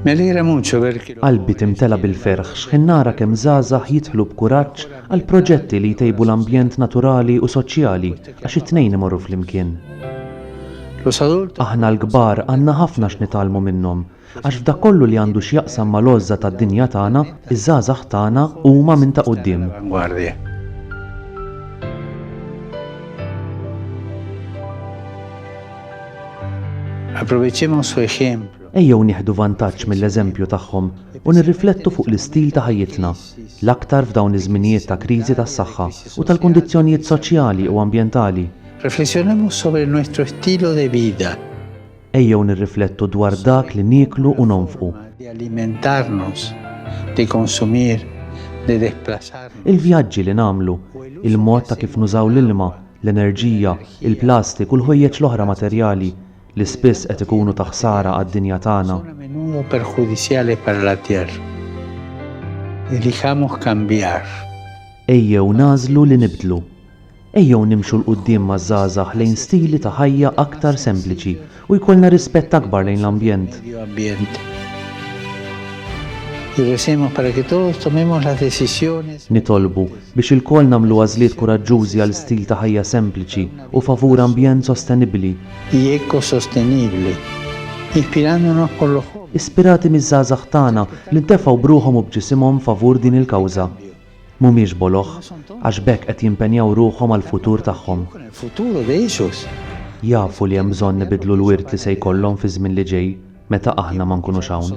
Qalbi timtela bil-ferħ x'ħin nara kemm żgħażagħ jidħlu b'kuraġġ għal proġetti li jtejbu l-ambjent naturali u soċjali għax it-tnejn imorru flimkien. Aħna l-kbar għandna ħafna x'nitgħallmu minnhom għax f'dak kollu li għandu x'jaqsam mal-għożża tad-dinja tagħna, iż-żgħażagħ tagħna huma minn ta' quddiem. Aprovechemos su ejemplo. Ejjew nieħdu vantaġġ mill-eżempju tagħhom u nirriflettu fuq l-istil ta' ħajjitna, l-aktar f'dawn iż-żminijiet ta' kriżi tas-saħħa u tal-kundizzjonijiet soċjali u ambjentali. Reflexionemos sobre nuestro estilo de vida. Ejjew nirriflettu dwar dak li nieklu u nonfqu. Il-vjaġġi li nagħmlu, il-mod ta' kif nużaw l-ilma, l-enerġija, il-plastik u l-ħwejjeġ l-oħra materjali li spiss qed ikunu ta' ħsara għad-dinja tagħna. Ejjew nagħżlu li nibdlu. Ejjew nimxu 'l quddiem maż-żgħażagħ lejn stili ta' ħajja aktar sempliċi U jkollna rispett akbar lejn l-ambjent. Nitolbu biex ilkoll nagħmlu għażliet kuraġġużi għal stil ta' ħajja sempliċi u favur ambjent sostenibbli. Ispirati miż-żgħażagħ tagħna li ntefgħu b'ruħhom u b'ġisimhom favur din il-kawża. Mhumiex boloh, għax b'hekk qed jimpenjaw ruħhom għall-futur tagħhom. Jafu li hemm bżonn ibiddlu l-wirt li se jkollhom fiż-żmien li ġej meta aħna ma nkunux hawn.